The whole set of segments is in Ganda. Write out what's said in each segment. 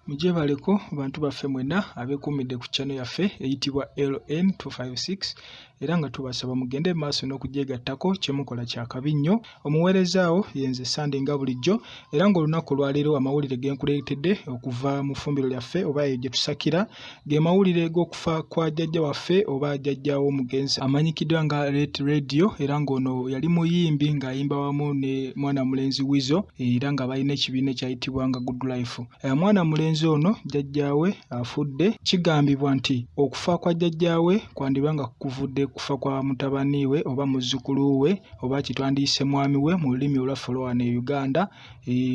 Mujebaleko bantu baffe mwena abekumidde ku channel yaffe eyitibwa LN256 era nga tubasaba mugende maaso n'okugyegattako kyemukola kyakabi nnyo omuweerezaawo yenze sande nga bulijjo era ng'olunaku olwaleero amawulire genkuleetedde okuva mu ffumbiro lyaffe oba eyo gye tusakira Ge mawulire g'okufa kwa jjajja waffe oba jjajja w'omugenzi amanyikiddwa nga Late Radio era ng'ono yali muyimbi ng'ayimba wamu ne mwana mulenzi Wizo era nga balina ekibiina ekyayitibwa nga Good Life. Eh, mwana mulenzi ono jjajjaawe afudde. Kigambibwa nti okufa kwa jjajjaawe kwandiba nga kuvudde kufa kwa mutabani we oba muzzukulu we oba kitwandiyise mwami we mu lulimi olwaffe olwa wano e Uganda.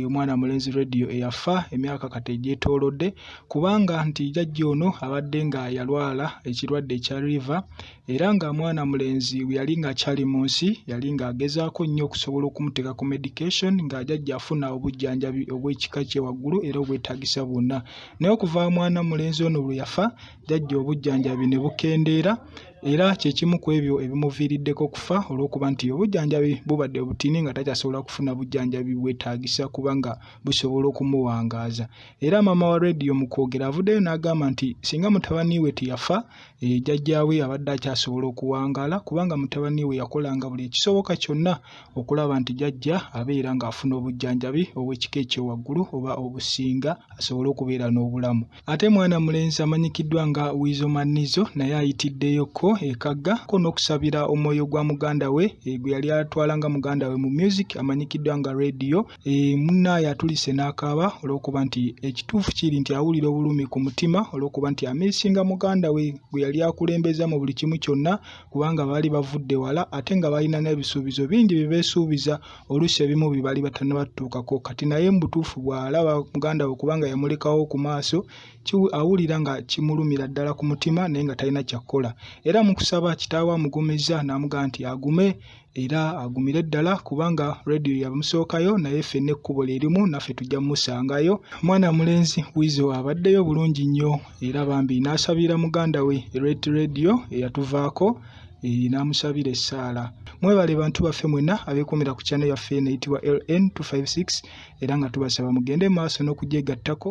omwana mulenzi radio eyafa emyaka kati egyetoolodde kubanga nti jajja ono abadde nga yalwala ekirwadde ekya river era nga mwana mulenzi bwe yali ng'akyali mu nsi yali ng'agezaako nnyo okusobola okumuteeka ku medication nga jajja afuna obujjanjabi obw'ekika kye waggulu era obwetaagisa bwonna naye okuva mwana mulenzi ono lwe yafa jajja obujjanjabi ne bukendeera era kye kimu ku ebyo ebimuviiriddeko okufa olw'okuba nti obujjanjabi bubadde obutini nga takyasobola kufuna bujjanjabi bwetaagisa kubanga busobola okumuwangaaza era maama wa rediyo mu kwogera avuddeyo n'agamba nti singa mutabani we teyafa eh, jajjaawe abadde akyasobola okuwangaala kubanga mutabani we yakolanga buli ekisoboka kyonna okulaba nti jajja abeera ng'afuna obujjanjabi obw'ekika ekyowaggulu oba obusinga asobole okubeera n'obulamu Ate mwana mulenzi amanyikiddwa nga Weasel Manizo naye ayitiddeyo ko e Kagga ko n'okusabira omwoyo gwa muganda we eh, gwe yali atwala nga muganda we mu music amanyikiddwa nga Radio. E, eh, munnaaye atulise n'akaaba olw'okuba nti ekituufu kiri nti awulira obulumi ku mutima olw'okuba nti amisinga muganda we gwe yali akulembeza mu buli kimu kyonna kubanga baali bavudde wala ate nga balina n'ebisuubizo bingi bye beesuubiza oluusi ebimu bye baali batannaba tutuukako kati naye mu butuufu bw'alaba muganda we kubanga yamulekawo ku maaso awulira nga kimulumira ddala ku mutima naye nga talina kyakukola era mu kusaba kitaawe amugumizza n'amugamba nti agume era agumire ddala kubanga rediyo yamusookayo naye fenna ekkubo lye limu naffe tujja mumusangayo mwana mulenzi wizo abaddeyo bulungi nnyo era bambi n'asabira muganda we ret rediyo eyatuvaako eh, n'amusabira essaala mwebale bantu baffe mwenna abeekuumira ku kyana yaffe eno eyitibwa ln 256 era nga tubasaba mugende maaso n'okugyegattako